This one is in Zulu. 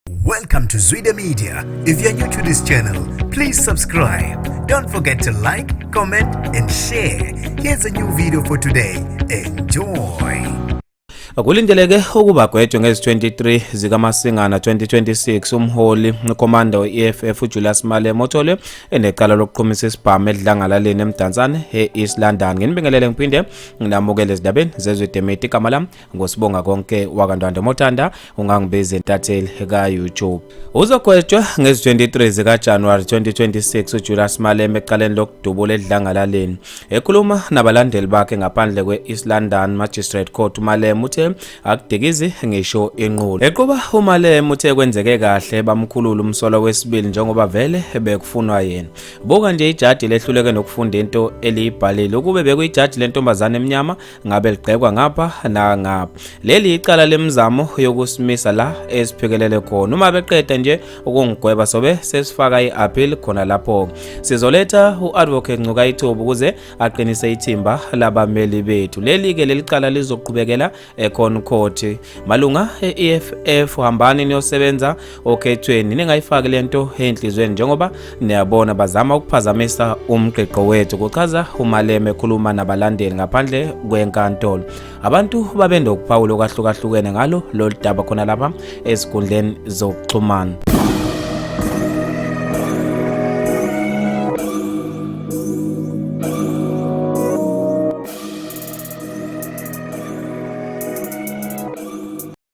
Welcome to Zwide Media. If you're new to this channel, please subscribe. Don't forget to like, comment and share. Here's a new video for today. Enjoy. Kulindeleke ukuba gwetshwe ngezi-23 zikaMasingana 2026 umholi ukhomanda we-EFF uJulius Malema othole enecala lokuqhumisa isibhamu edlangalaleni eMdansane e-East London. Nginibingelele ngiphinde nginamukele ezindabeni zezwe demeti igama lami ngosibonga konke wakantwanda motanda ungangibizi intatheli ka-youtube uzogwetshwa ngezi-23 zikajanuwari 2026 ujulius malema ecaleni lokudubula edlangalaleni ekhuluma nabalandeli bakhe ngaphandle kwe-east london magistrate court umalema uthe akudikizi ngisho inqulo equba umalema uthe kwenzeke kahle bamkhulula umsolo wesibili njengoba vele bekufunwa yena buka nje ijaji lehluleke nokufunda into eliyibhalile ukube bekuyijaji lentombazane emnyama ngabe ligqekwa ngapha nangapha leli icala lemizamo yokusimisa la esiphikelele khona uma beqeda nje ukungigweba sobe sesifaka i-appeal khona lapho sizoletha u-advocate ncuka ithuba ukuze aqinise ithimba labameli bethu leli-ke leli cala lizoqhubekela ekhon court malunga e-eff hambani niyosebenza okhethweni ningayifaki lento enhlizweni njengoba niyabona bazama ukuphazamisa umqiqo wethu kuchaza umaleme ekhuluma nabalandeli ngaphandle kwenkantolo abantu babenokuphawula okwahlukahlukene ngalo lolu daba khona lapha ezinkundleni zokuxhumana